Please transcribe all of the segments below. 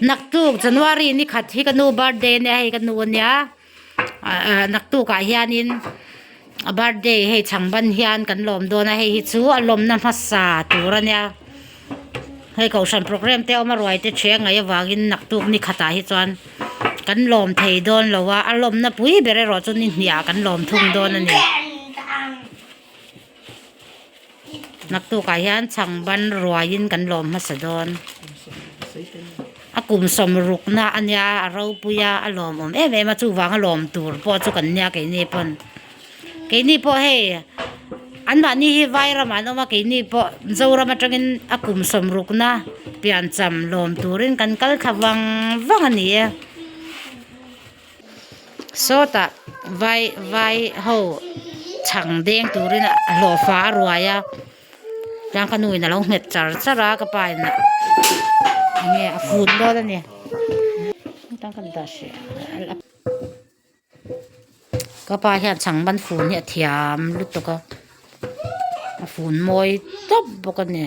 Naktuk January ni khat hi ka nu birthday ania hei ka nu ania ahh naktuk ah hianin a birthday hei chhang ban hian kan lawm dawn a hei hi chu a lawmna hmasa tur ania hei kohhran program te awm a ruai te ṭhi a ngaih avangin naktuk ni khatah hi chuan kan lawm thei dawn lo a a lawmna pui ber erawh chu nihniah kan lawm thung dawn a ni. Naktuk ah hian chhang ban ruai in kan lawm hmasa dawn a kum sawm ruk na ania a ropui a a lawm awm em em a chuvang a lawm tur pawh chu kan nia keini pawn keini pawh hei an mahni hi vai ram ah an awm a keini pawh Zoram atang in a kum sawm ruk na piancham lawm tur in kan kal thla vang vang a ni e. Sawtah vaiho chhang deng turin a hlawhfa a ruai a chuan ka nuin alo nghet char char a ka pa in enge a fun dawn a ni hetah ka dah hrih a ka pa hian chhang ban fun hi a thiam lutuk a a fun mawi tawp bawk a ni.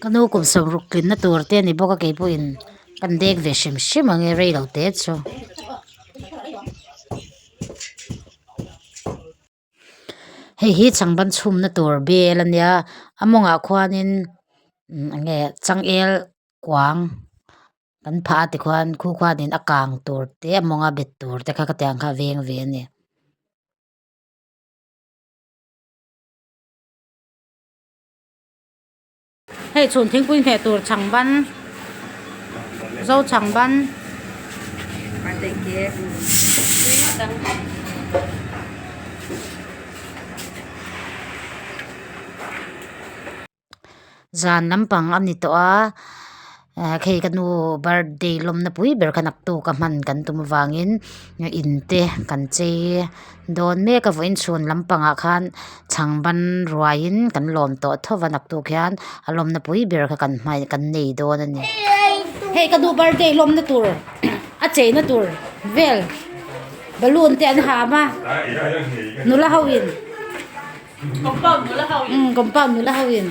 Ka nu kum sam ruk tling na tur te ani bawk a kei pawh in ka in dek ve hrim hrim ang e rei lo te chu hei hi chhang ban chhum na tur vel a nia a mawng ah khuan in umm eng nge changel kuang kan phah a ti khuan khu khuan in a kang tur te a mawng a bet tur te kha ka tiang kha a veng ve a ni. Hei chhun thingpui hneh tur chhang ban, zo chhang ban. Zan lampang a ni tawh a. ah khi ka nu birthday lawmna pui ber kha naktu ka hman kan tum avangin in te kan chei dawn mek a vawiin chhun lampangah khan chhang ban ruaiin kan lawm tawh tho va naktu khian a lawmna pui ber kha kan hman kan nei dawn a ni hei ka nu birthday lawmna tur a cheina tur vel balloon te an ham a nula hoin. Compound nula ho in. Um, compound nula ho in.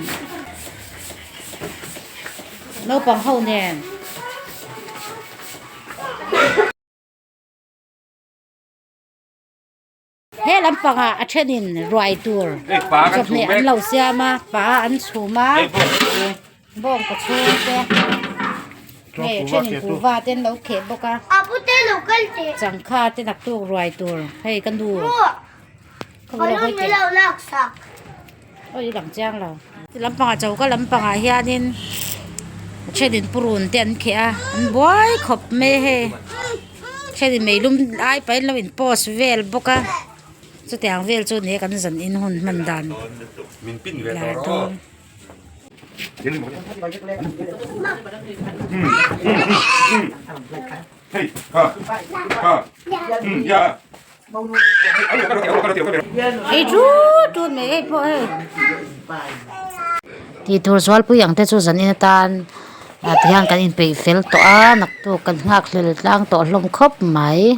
Naupang ho nen. He lampanga a thenin ruai tur chawp hnih an lo siam a, pa an chhum a. Bawng ka chhung te hei a thenin puva te an lo kheh bawk a changkha te naktuk ruai tur hei ka nu ka vawlei hawi te awi lang chiang lo chu lam pangah cho ka lam pangah hianin a thenin purun te an kheh a an buai khawp mai hei a thenin mei lum ai pahin an lo in post vel bawk a chutiang vel chu an nih e kan zan in hun hman dan leh dawn. Tih tur Zualpui ang te chu zan in atan a ti hian kan inpeih fel tawh a naktuk kan nghakhlel tlang tawh hlawm khawp mai.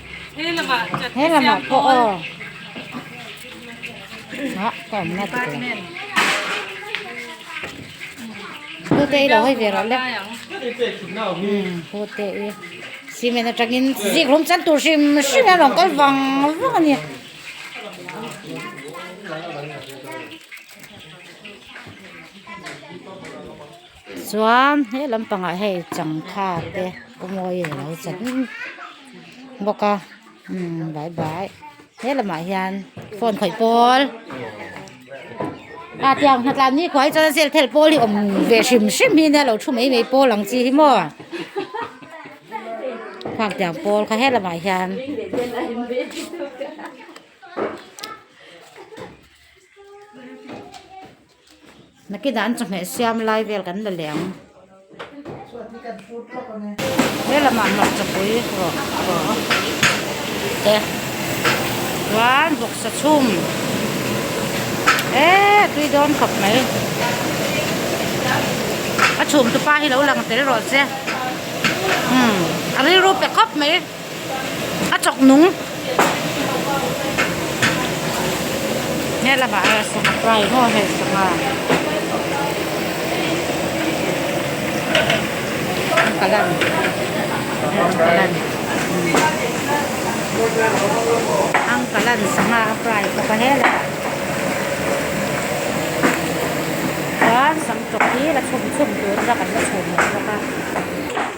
He lamah chat He lamah pawh aw ah ka awm na tih kawla hu te i lo hai ve rawh le hu te i cement atangin zik hlum chan tur hrim hrim a rawn kal vang vang a ni Chuan he lampangah hei changkha te awmawi a lo chan bawk a umm bai bai he lamah hian phone khawih pawl a tiang nghat lah nihkhua hi chuan zêlphel pawl hi awm ve hrim hrim hi nia lo thu mai mai pawl ang chi hi maw khak tiang pawl kha he lamah hian -- Naki dan chawhmeh siam lai vel kan la leh ang. He lamah hmarchapui rawh teh chuan bawksa chhum e tui dawn khawp mai. A chhumtu pa hi lo lang tel rawh che. A rilru pe khawp mai. a chawk nung he lamah hian sangha pai maw hei sangha an kal a an kal a ni an kal a ni sangha a pai bawk a he lamah chuan sam tawk hi la chhum chhum tur la kan la chhun leh bawk a.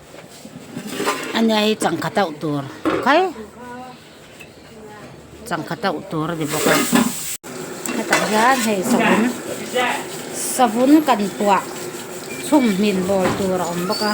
Ania hi changkhat auh tur khai changkhat auh tur a ni bawk a hetah hian hei savun savun kan puah chhum hmin bawl tur a awm bawk a.